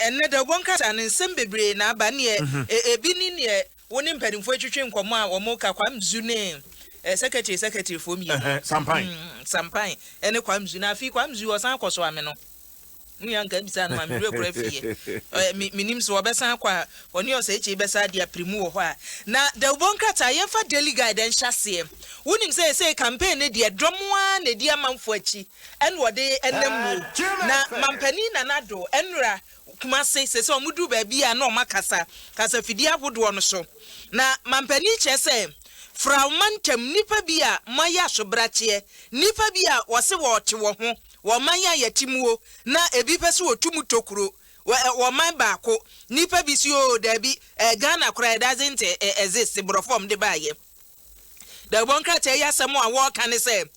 Ɛnnɛ da, wɔn kasa no, nsɛm bebree na aba. Neɛ ebi ne neɛ wo ne mpanimfoɔ retwetwe nkɔmmɔ a wɔreka, Kwamzu ne Secretary Secretaryfoɔ mmienu, Sampan Sampan ne Kwamzu. Na afei Kwamzu ɔsan akɔ so ame no. Wo nua nka bisa no ma, me werɛ kora fiiɛ. Me, menim sɛ wɔbɛsan akɔ a, ɔne Ɔsɛekyee bɛsan adi apirimu wɔ hɔ a. Na dawubɔ nkrataa, yɛmfa Daily Guide nhyɛ aseɛ. Wonim sɛ seesei campaign no deɛ, dɔm ara na ɛdi amanfoɔ akyi. Ɛna wɔde nam mu. Na Mampanin Nana Addo nnura Kumase sese wɔn duru baabi a na wɔn akasa kasa fidie ahodoɔ no so. Na Mampanin kyerɛ sɛ Firaw mantam nnipa bi a moayɛ asobrakyeɛ, nnipa bi a wɔse wɔɔte wɔ ho, wɔ ɔman a yɛte muo, na ebi pɛ sɛ wɔtu mu tokuro wɔ wɔ ɔman baako, nnipa bi se oo daabi, eh, Ghana koraa doesn't eh, eh, exist, borɔfo a wɔde baayɛ. Dawubɔ nkrataa yi asɛm a wɔka ne sɛ,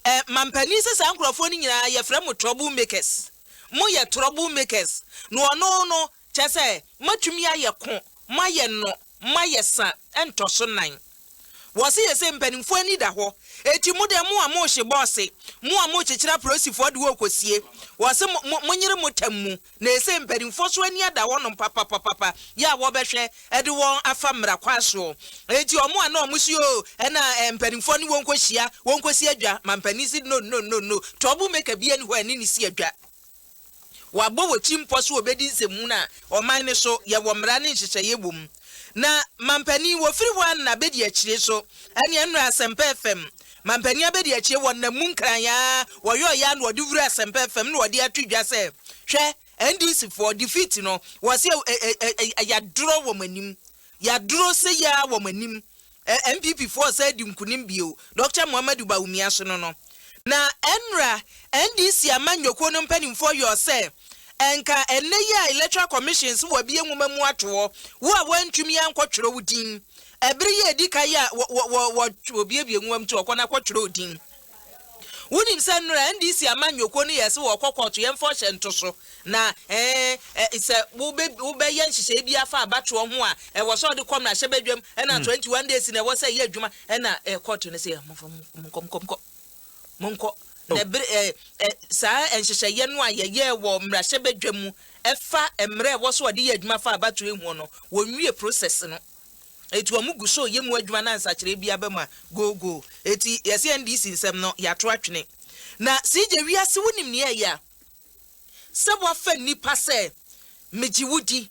Ɛ, mampanin sɛ saa nkurɔfoɔ no nyinaa yɛfrɛ mo trouble makers. Moyɛ trouble makers. Na ɔno no, kyerɛ sɛ, moatumi ayɛ ko, moayɛ nnɔ, moayɛ sa ntɔ so nan. Wɔse yɛ sɛ mpanimfoɔ ani da hɔ. Enti mo deɛ, mo a mohye bɔɔse, mo a mokyekyere aprosifoɔ de wɔkɔsie, wɔse mo, mo, monyere mo tam mu. Na ese mpaninfoɔ nso ani ada wɔnom papapapapa yɛ a wɔbɛhwɛ de wɔn afa mmara kwan soɔ. Enti wɔn a na wɔn se oo ɛna mpaninfoɔ ne wɔn nkɔ hyia, wɔn nkɔ si adwa, ma mpanin se no no no no, trouble maker biara nni hɔ a ɛne no si adwa. Wɔabɔ wɔ kyimpɔ se wɔbɛdi nsɛmhunu a ɔman no so yɛ wɔ mmara ne nhyehyɛeɛ wɔ mu. Na Manpanin wɔfiri hwan na bɛdi akyire so? Ɛneɛ nnora Asɛmpa FM Manpanin abɛdi akyire wɔ nna mu nkran ara wɔyɔeɛ ara na wɔde wura Asɛmpa FM na wɔde ato dwa sɛ hwɛ NDC foɔ defeat no wɔse ɛ ɛ ɛ ɛ yadorɔ wɔn anim yadorɔ seyie ara wɔn anim NPP foɔ resan adi nkunim bio Dɔkta Muhammadu Bawumia so no no. Na ɛnora NDC amanyɔkuo no mpaninfoɔ yɔɔ sɛ ɛnka ɛnnɛ yi a Electoral Commission se wɔabie nwoma mu ato hɔ wo a woantumi ankɔ twerɛ wo din ɛbere yi a ɛdi kan yi a wɔ wɔ wɔ wɔ wɔbuebue nwoma mu ti hɔ kɔ na kɔ twerɛ wo din. Wonim sɛ nnora NDC amanyɔkuo no yɛɛ sɛ wɔrekɔ kɔɔto, yɛmfa ɔhyɛ nto so, na eh, sɛ wobɛ, wobɛyɛ nhyehyɛeɛ bi afa abatoɔ ho a, ɛwɔ sɛ ɔde kɔ mmarahyɛbadwam, ɛna 21 hmm. days na ɛwɔ sɛ ɛyɛ adwuma, ɛna eh, kɔɔto no sɛ monkɔ, monkɔ, monkɔ, monkɔ. Oh. Na ɛbere eh, eh, saa nhyehyɛeɛ no a yɛyɛɛ wɔ mmarahyɛbadwam mu ɛfa mmerɛ ɛwɔ sɛ ɔde yɛ adwuma fa abatoɔ ho no, wɔnwie process no. Eti wɔn gu so yɛ mu adwuma na nsakyeraɛ biara bɛma googoo. Eti yɛse NDC nsɛm no yɛato atwene. Na CJ wiase wonim nea ɛyɛ a? Sɛ woafa nnipa sɛ megye wo di,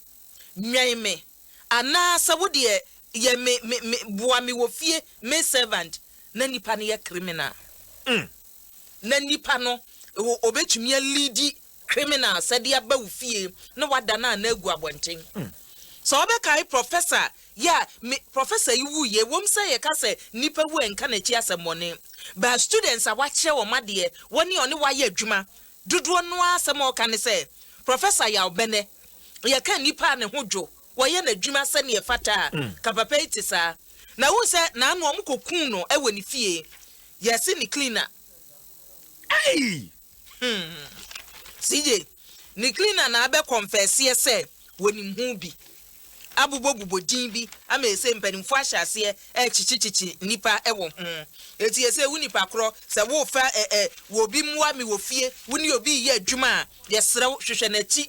nwɛn me, anaa sɛ wo deɛ yɛ me me me boa me wɔ fie, me servant, na nnipa no yɛ criminal. Umm na nnipa no ɔbɛtumi a leadi Criminal sɛ de aba wo fie na wada no ana agu abɔnten. Sɛ wo bɛkae Professor yɛ a, me Professor yi wuu yɛ, ɛwom sɛ yɛ ka sɛ nnipa wu a ɛnka n'akyi asɛmmɔne, but students a wakyerɛ wɔn adeɛ, wɔne ɔne wo ayɛ adwuma, dodoɔ no ara asɛm a wɔka ne sɛ Professor yaw bɛnɛ, yɛ ka nnipa a ne ho dwo, wɔyɛ n'adwuma sɛdeɛ ɛfata a, ka papa yi te saa. Na wohu sɛ naano wɔn kɔ kuu no wɔ ne fie, yɛ se ne cleaner. Ei! Hmm. CJ, ne cleaner na abɛ confesseɛ sɛ wɔnim ho bi abobɔbobɔ din bi ama ɛsei mpanimfoɔ ahyɛ aseɛ ɛrekyekyekyekye nnipa wɔ ho. Enti ɛsei wo nipa korɔ sɛ worefa ɛ ɛ wɔ obi mmoa me wɔ fie, wo ne obi reyɛ adwuma a, yɛsrɛ wo hwehwɛ n'akyi.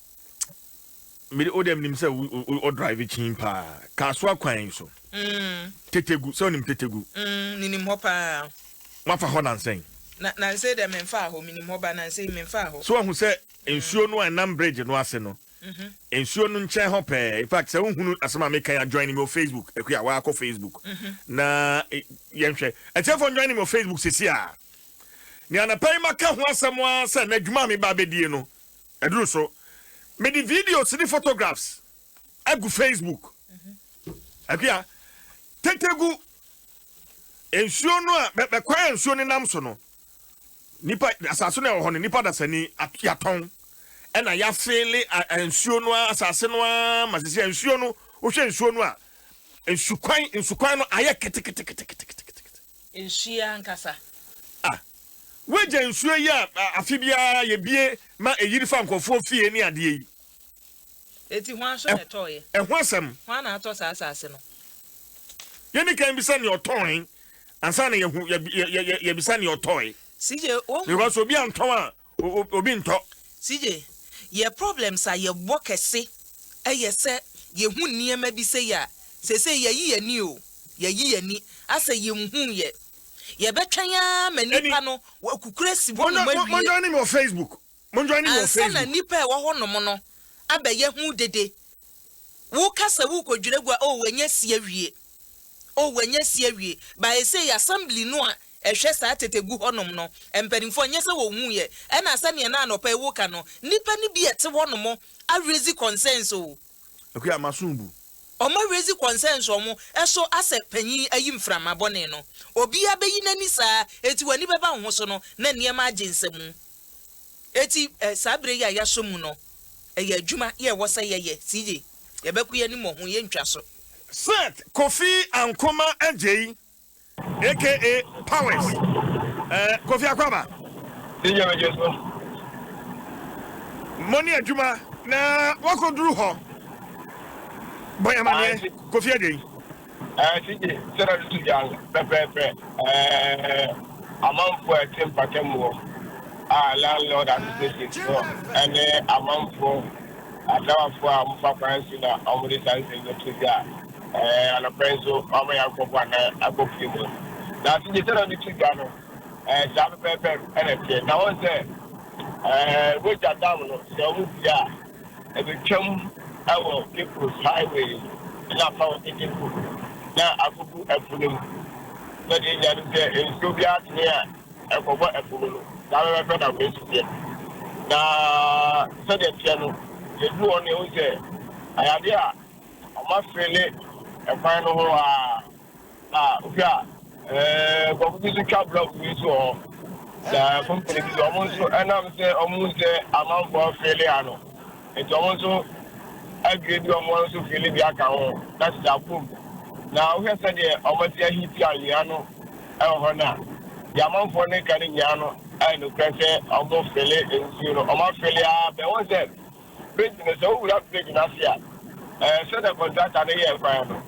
mede wo dɛm nim sɛ wo drive kyin paa kaasoa kwan so tetegu sɛ wonim tetegu mm, menim hɔ paa wafa hɔ nansɛn na nansɛn dɛ memfaa hɔ menim hɔ ba nansɛn memfaa hɔ so wahu sɛ mm. nsuo no a ɛnam bridge no ase no mhm. nsuo no nkyɛn hɔ pɛɛ in fact sɛ wohunu asɛm a meka ya join me wɔ facebook akua eh, waakɔ facebook mhm. na eh, yɛnhwɛ ɛtiɛfoɔ join me wɔ facebook sisi a ne anapa yi maka ho asɛm a sɛ n'adwuma a meba bɛdie no Ɛduru so, mede videos ne photographs agu Facebook. Akua, tete gu nsuo no a bɛkwan a nsuo no nam so no, nipa asase no a ɛwɔ hɔ no, nipa dasani yɛatɔn ɛna yɛafeele nsuo no a asase no a ma sisi nsuo no wohwɛ nsuo no a nsukwan nsukwan no ayɛ keteketeketekete Nsu yi ankasa. Ah! W'agya nsuo yi a afe biara yɛbue ma ɛyiri fa nkurɔfoɔ fie ne adeɛ yi. Enti hwan so na ɛtɔeɛ? Ɛho asɛm. Hwan na atɔ saa asase no? Yɛnni kan bisa nea ɔtɔn ansa na yɛhu, yɛbisa nea ɔtɔe. CJ, wohu. Because obi antɔn a, obi ntɔ. CJ, yɛ problems a yɛbɔ kɛse ɛyɛ sɛ yɛhu nneɛma bi sei a, seisei yɛyi yɛni o, yɛyi yɛni asɛ yɛnhuu yɛ. Yɛbɛtwɛn ara ma nnipa no wɔakukuru asi hɔ nom awie. Mo join me wɔ Facebook, mo join me wɔ Facebook. Ansa na nnipa a ɛwɔ hɔ nom no abɛyɛ ho dede. Woka sɛ worekɔdwira gua, oh, wɔanya si awie, oh, wɔanya si awie. Bae sei, assembly no a ɛhwɛ saa tete gu hɔnom no mpanimfoɔ, ɛnyɛ sɛ wɔnhuiɛ, ɛna sɛdeɛ na anɔpa yi woka no, nnipa no bi a ɛte hɔnom araise concerns oh. Akuya Amasumbu. Wɔaraise concerns wɔn so asɛ panyin ayi mframa bɔne no. Obiara bɛyi n'ani saa, enti wɔn ani bɛba wo ho so no, na nneɛma agye nsamu. Enti, saa bere yi a yɛaso mu no, ɛyɛ adwuma yɛ ɛwɔ sɛ yɛyɛ, CJ. Yɛbɛko yɛn anim wɔ ho, yɛrentwa so. Seth Kofi Ankomah Adjei aka Powers, eh, Kofi Akwaba. Senior Majors no. Mo ne adwuma na wɔakɔduru hɔ. Bɔ yɛn amaneɛ, Kofi Adjei. Ɛɛ CJ, sɛdeɛ ɔde to dwa no pɛpɛɛpɛ, ɛɛ amanfoɔ a ɛte mpatamu hɔ a Landlord Associations no ne amanfoɔ asrawafoɔ a wɔfa kwan so na wɔde saa nsɛm no to dwa a ɛɛ anɔpa yi nso wɔama yɛakɔbɔ anan akɔ fie mu. Na CJ, sɛdeɛ ɔde to dwa no, ɛɛ saa pɛpɛɛpɛ na ɛteɛ. Na wɔn sɛ ɛɛ Roger Dam no, sɛ wɔpue a, ebetwam wɔ People's Highway no na afa hɔ ketefo na akogu ɛpo no mu. Sɛnea yenya nim sɛ nsuo biara tene a ɛkɔbɔ ɛpo mu no, saa pɛpɛɛpɛ na wei nso teɛ. Na sɛdeɛ ɛteɛ no, sɛ ɛduru hɔ no yɛhu sɛ ayɛ adeɛ a wɔafeele ɛkwan no ho ara. A, hwɛ a, nkurɔfo bi nso twa blɔk bi nso wɔ hɔ, na kompene bi nso, wɔn nso ɛnam sɛ wɔhu sɛ amanfoɔ afeele ano nti, wɔn nso adwiri bi wɔn, wɔn nso feele bi aka ho, na kyɛ sɛ abom. Na wohwɛ sɛdeɛ wɔasi ahiti anwea no wɔ hɔ no a, deɛ amanfoɔ no reka no nyinaa no ayɛ nokorɛ sɛ wɔfeele nsuo no, wɔafeele ara bɛn. Wohu sɛ. Bridge no, sɛ wowura bridge no ase a, ɛɛ, sɛdeɛ contractor no yɛɛ kwan no,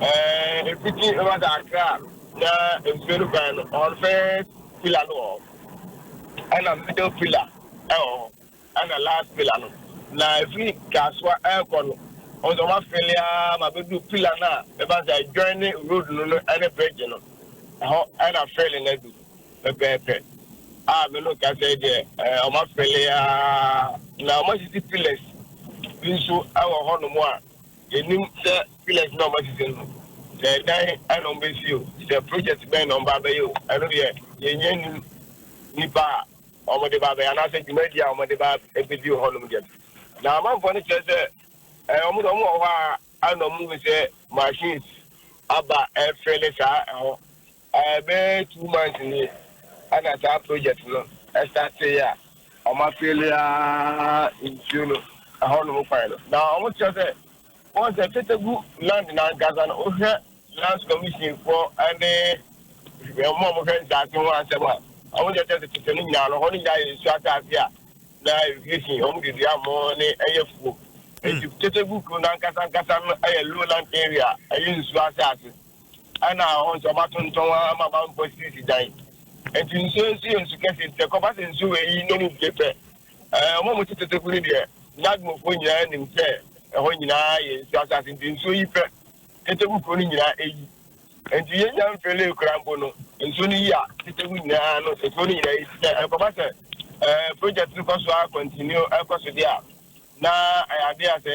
ɛɛ, ɛfiti Nwada Accra na nsuo no kwan no, ɔn first pillar no wɔ hɔ, ɛna middle pillar ɛwɔ hɔ, ɛna last pillar no, na ɛfiri Kasoa ɛɛkɔ no, ɔn sɛ ɔma fele ara ma bɛduru pillar no a ɛba sɛ ɛjoine road no no ɛne bridge no, ɛhɔ ɛna fele no aduru. pɛpɛɛpɛ, a me no kasa yi deɛ ɛɛ wɔn afɛle aa, na wɔn asisi pillars bi nso ɛwɔ hɔ nom a yɛ nim sɛ pillars na wɔn asisi no sɛ ɛdan ɛna wɔn bɛ si o, sɛ project bɛn na wɔn ba abɛyɛ o, ɛno deɛ yɛ nyɛ nim, nipa a wɔn de ba abɛyɛ anaa sɛ dwumadie a wɔn de ba ɛbɛdi wɔ hɔ nom deɛ no, na amanfoɔ no kyerɛ sɛ ɛɛ wɔn deɛ wɔn wɔ hɔ a ɛna wɔn hu sɛ machines aba ɛfɛle saa ɛhɔ, Bɛyɛ two months ni na saa project no startee a wɔn afeeli ara nsuo no ɛhɔ nom kwan no. Na wɔn kyerɛ sɛ wɔn sɛ Tetegwu land no ankasa no wohwɛ lands commission foɔ ɛne wɔn a wɔhwɛ nsaase ho asɛm a wɔn kyerɛ sɛ tete no nyinaa no hɔ no nyinaa yɛ nsuo asaase a na irrigation wɔn de dua mo ne ɛyɛ fuo. Nti Tetegwu kuro no ankasa ankasa no ɛyɛ lowland area ɛyɛ nsuo asaase. ɛna ɔn sɛ ɔba tontɔn wa ama ba mpo si si dan nti nsuo nso yɛ nsu kɛse nti ɛkɔ ba sɛ nsuo wɔ yi nom bie pɛ ɛɛ ɔmo mo tete teku ne deɛ nyadmofo nyinaa nim sɛ ɛhɔ nyinaa yɛ nsuo asase nti nsuo yi pɛ tete ku kuro no nyinaa eyi nti yɛ nya mfele kura mpo no nsuo no yi a tete ku nyinaa no ekuro no nyinaa yi sɛ ɛkɔ ba sɛ ɛɛ project no kɔ so a continue ɛkɔ so deɛ a na ɛyɛ adeɛ a sɛ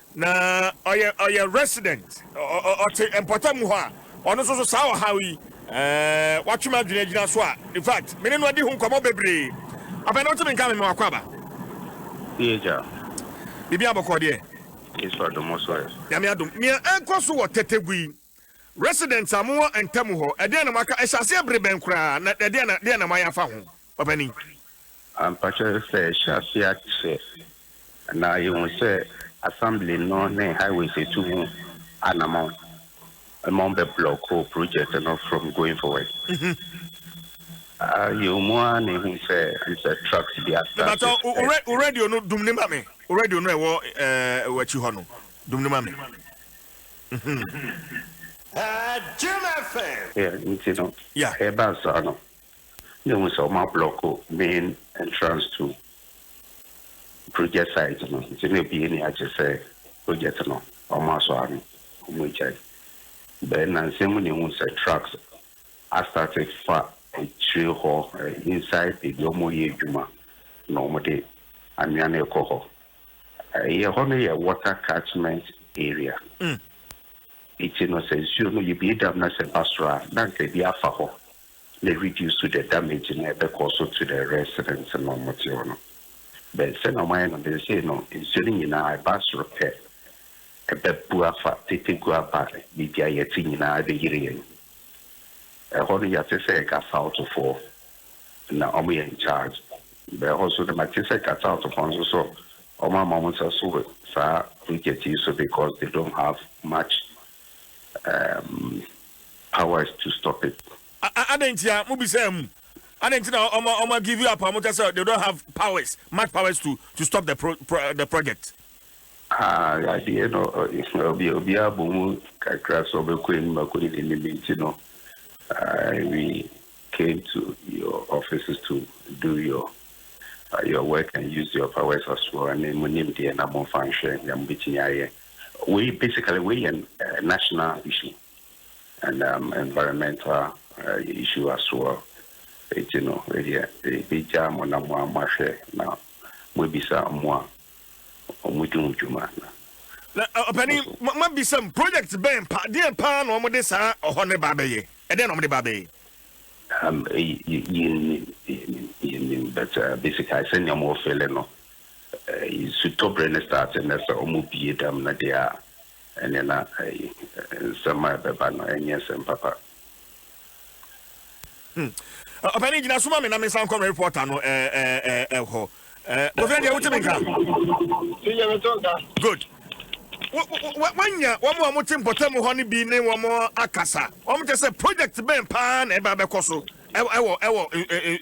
Na ɔyɛ ɔyɛ resident ɔ ɔ ɔte mpɔtam hɔ a ɔno nso so saa ɔhaw yi ɛɛ watwe m'adwene agyina so a in fact me ne no adi ho nkɔmmɔ bebree afei na wotumi nka me me w'akwaaba. Ph. Biribiara bɔkɔɔ deɛ? Yesu adom wo so ɛ? Nyame adom. Nea ɛrekɔ so wɔ Tetegu yi, Residents a mowɔ ntamu hɔ, ɛdeɛn na moaka? Ɛhyɛ aseɛ bere bɛn koraa, na ɛdeɛn na deɛn na moayɛ afa ho, Papanin? Ampa sɛ, sɛ ɛhyɛ aseɛ akyɛ na yɛhu sɛ Assembly no ne Highways atu ho anamɔn ma wɔn bɛ block project no from going forward. Ah, yɛwɔ mu ara na yɛhu sɛ sɛ trucks bi asa. Mebatɔ, wo radio no dum ne ma me, wo radio no ɛwɔ ɛɛ w'akyi hɔ no, dum ne ma me. Yɛ nti no ɛbaa saa no na ehu sɛ ɔmo ablɔko main entrance to project site no nti na ebue ni agye sɛ project no ɔmo asɔ ano ɔmo agyae bɛɛ nnansa mu na ehu sɛ trucks astate fa akyire hɔ inside baabi ɔmo yɛ adwuma na ɔmo de anwea no rekɔ hɔ. Yɛhɔ no yɛ water catchment area nti no sɛ nsuo no yɛbie dam na sɛ ɛba soro a na nka ɛbi afa hɔ na ɛ reduce the damage no a ɛbɛkɔ so to the residents no a wɔte hɔ no but sɛnea wɔayɛ no seesei no nsuo no nyinaa ɛba soro pɛ ɛbɛbu afa tete gu aba biribi a yɛte nyinaa ɛbɛyere yɛn ɛhɔ no yɛte sɛ nka southfoɔ na ɔmo yɛ in charge bɛɛ hɔ so dɛ ma te sɛ ka south fɔ nso so ɔmo ama ɔmo nsa so wɔ saa project yi so because they don't have much um, powers to stop it. adɛn nti a mo bisaa mu adɛn nti na ɔmo ɔmo give you up a ɔmo ka sɛ they don't have powers much powers to to stop the pro, pro, the project. Ah, adeɛ no obi obiara bɔ mu kakra sɛ ɔbɛkɔ anim akɔ ne n'anim nti no uh, we Came to your offices to do your your work and used your powers as well ɛne mo nimdeɛ na mo nfa nhwɛ nea mo betumi ayɛ wei basically wei yɛ eh, national issue and um, environmental uh, issue as well eti no wei deɛ ebi gya mo na mo a mo ahwɛ na mo ebisa mmoa. wɔn di ho dwuma no. Na ɔpanin, ma ma bisa mu, project bɛn pa, deɛ paa na wɔn de saa ɔhɔ no ba abɛyɛ? Ɛdeɛ na wɔn de ba abɛyɛ? Um, yɛnim, yɛnim, yɛnim, but uh, basically sɛnea wɔn fele no, uh, sutɔbere no start na sɛ wɔn bie dam no deɛ a, ɛne na uh, nsɛm a ɛbɛba no ɛnyɛ nsɛm papa. Hmm. Ọpẹni gyina suma mi na mi nsa nkọ mi ripọta no ẹ ẹ ẹ ẹ hɔ. Bofina deɛ wote mi nka? Tiye mi to nka. Good. Wanya wɔn a wɔte mpɔtam hɔ no bi ne wɔn akasa. Wɔn kyɛ sɛ project bɛn paa na ɛba bɛkɔ so ɛwɔ ɛwɔ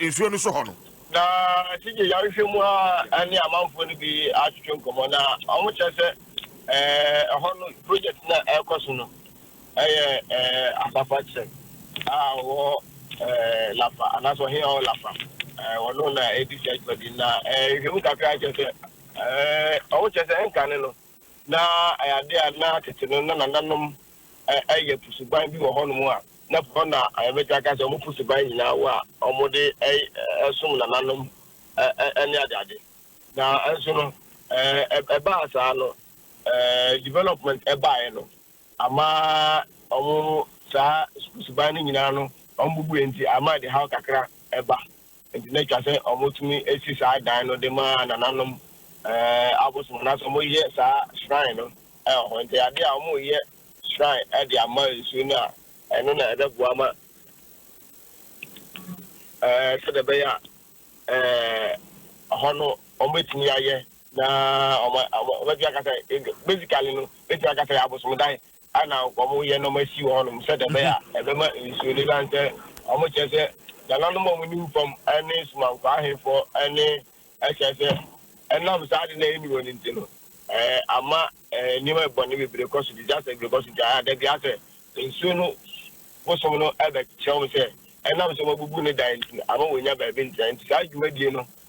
nsuo no so hɔ no. Na tiye yɛahwehwɛ mu a ɛne amanfoɔ no bi atwetwe nkɔmmɔ na wɔn kyɛ sɛ ɛhɔ no project na ɛkɔ so no Ɛyɛ Ampapa Chen a ɔwɔ Lapa anaasɛ ɔhene a ɔwɔ Lapa. Ɔno na edi saa dwumadi no. Na nhwehwɛmu kakra kyerɛ sɛ, ɔwo kyerɛ sɛ nkane no, na ɛyɛ ade a na tete no na nananom yɛ po suban bi wɔ hɔnom a na po hɔ na yɛbɛtumi aka sɛ wɔpo suban nyinaa wɔ a wɔde som nananom ne adeade. Nanso no, ɛbaa saa no, development baeɛ no, Ama ɔmo saa sukuu suban no nyinaa no ɔmo bubue nti ama ɛde haw kakra ba. Nti na etwa sɛ ɔmo tumi si saa dan no de ma nananom abosom anaasɛ ɔmo yɛ saa shrine no wɔ hɔ. Nti ade a ɔmo yɛ shrine de ama nsuo no a ɛno na ɛbɛboa ma sɛdeɛ ɛbɛyɛ a ɛhɔ no ɔmo bɛtumi ayɛ. Na wɔbɛtumi aka sɛ, basically no, bɛtumi aka sɛ abosomdan ana wɔyɛ na wɔasi wɔ hɔnom sɛdeɛ ɛbɛyɛ a ɛbɛma nsuo no ɛsiane sɛ wɔkyerɛ sɛ nananom a wɔnim fam ne somankwaa ahefoɔ ne ɛkyerɛ sɛ ɛnam saa ade no a ɛnni hɔ no nti no ama nneɛma bɔne bebree kɔ so disaster bebree kɔ so nti ada bi asɛ nsuo no bosom no ɛbɛkyerɛ wɔn sɛ ɛnam sɛ wɔabubu ne dan nti ama wɔnya baabi ntena nti saa dwumadie no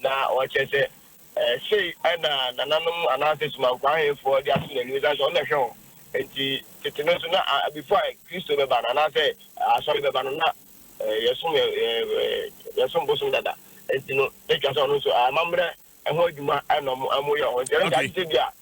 Na ɔkyerɛ sɛ sei na nananom anaasɛ sumankwaa ahenfoɔ de ato n'anim ɛsiane sɛ ɔno na ɛhwɛ wɔn nti. Tete no nso na before a Kristo bɛba no anaasɛ asɔre bɛba no na yɛsom yɛsom bosom dada nti no na ɛtwa sɛ ɔno nso amammerɛ ɛho adwuma na wɔyɛ wɔn nti ɛno nti agye sɛ bi a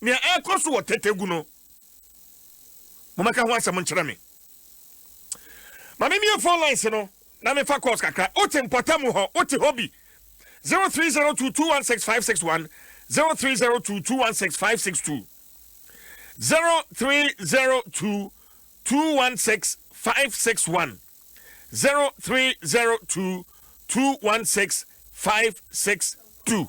Nea ɛrekɔ so wɔ Tetegu no, mommɛka ho asɛm nkyerɛ me. Ma memmue phone lines no na memfa calls kakra. Wote mpɔtamu hɔ, wote hɔ bi? 0302216561, 0302216562, 0302216561, 0302216562.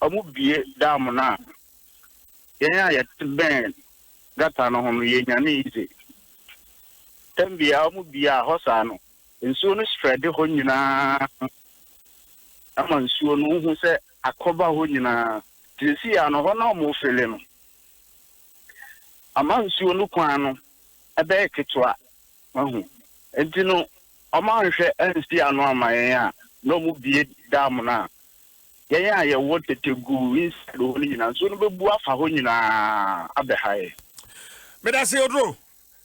wɔbue dam no a, yɛn a yɛte bɛn gata no ho no, yɛnyane yize. Tam biara wɔbue a, hɔ saa no, nsuo no spreade hɔ nyinaa ma nsuo no, wohu sɛ akɔba hɔ nyinaa. Nti seesei ara no, hɔ no a wɔrefele no ama nsuo no kwan no bɛyɛ ketewa. Wahu? Enti no, wɔanhwɛ ansi ano amma yɛn a, na wɔbue dam no a, yɛn a yɛwɔ tete guu inside hɔ no nyinaa, nsuo no bɛbu afa hɔ nyinaa abɛha yɛn. Medase Oduro.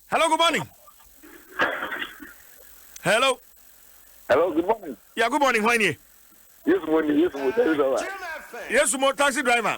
Hello, good morning. Hello. Hello, good morning. Yeah, good morning. Hwan nie? Yesu mo ni, Yesu mo taxi driver. Yesu mo taxi driver.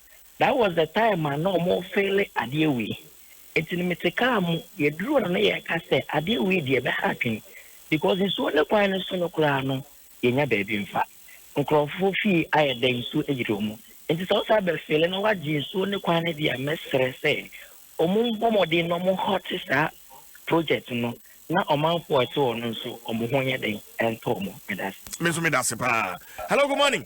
that was the time a na ɔmo feele adeɛ wei nti no mete car mu yɛduru hɔ no na yɛka sɛ adeɛ wei deɛ ɛbɛha adwene because nsuo ne kwan no so no koraa no yɛnya baabi mfa nkorɔfoɔ fie ayɛ dɛ nsuo ayiri ɔmo nti sɛ wosan bɛ feele na wagye nsuo ne kwan no deɛ mɛsrɛ sɛ ɔmo mbɔ mmɔden na ɔmo hɔte saa project no na ɔmanfoɔ ɛte hɔ no nso ɔmo ho nyɛ dɛn ɛntɔ ɔmo medase. Me nso medase paa. Hello, good morning.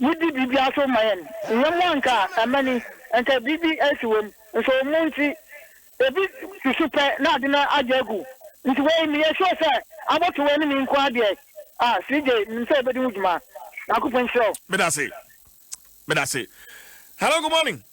Yidi biribiara so ma yɛn. Nyɛ mo anka amani, anka biribi asi wom, nso mo nti ebi susu pɛ na ade no agye agu. Nti wei meyɛ sure sɛ abɔto wei ne me nko ara deɛ a CJ menim sɛ wobɛdi ho dwuma. Nyankopɔn nhyira wo. Medase. Medase. Hello good morning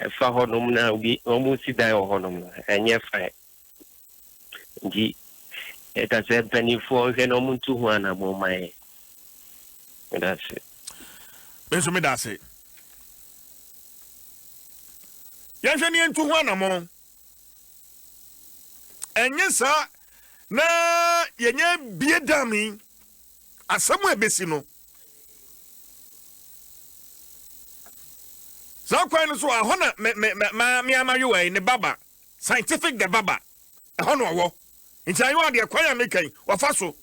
ɛfa hɔnom na obi wɔresi dan wɔ hɔnom no, ɛnyɛ fine. Nti yɛka sɛ mpanimfoɔ nhwɛ na wɔntu ho anammɔn mma yɛn. Meda ase. Me nso meda ase. Yɛnhwɛ ne yɛntu ho anammɔn. Ɛnyɛ saa na yɛnyɛ bie dam yi asɛm a ɛbɛsi no. saa kwan no so a ɛhɔ na me me me maa me ama yowa yi ne baba scientific the baba ɛhɔ na ɔwɔ nti ayɔ adeɛ kwan a meka yi wafa so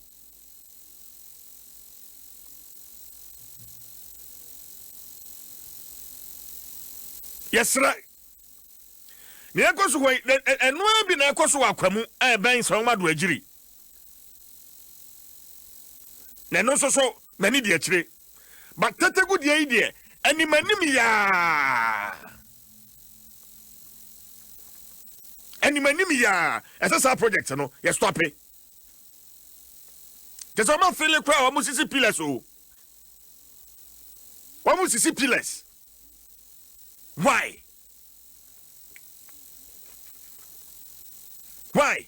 yɛsrɛ nea ɛkɔ so hɔ yi ɛnoa bi na ɛkɔ so wɔ akwa mu a ɛbɛn sɛ wɔn ado agyiri na ɛno nso so n'ani di akyire but tetegu deɛ yi deɛ anim anim yaa anim anim yaa ɛsɛ saa project no yɛ stope te sɛ ɔma fele koraa wɔn sisi pillars o wɔn sisi pillars why why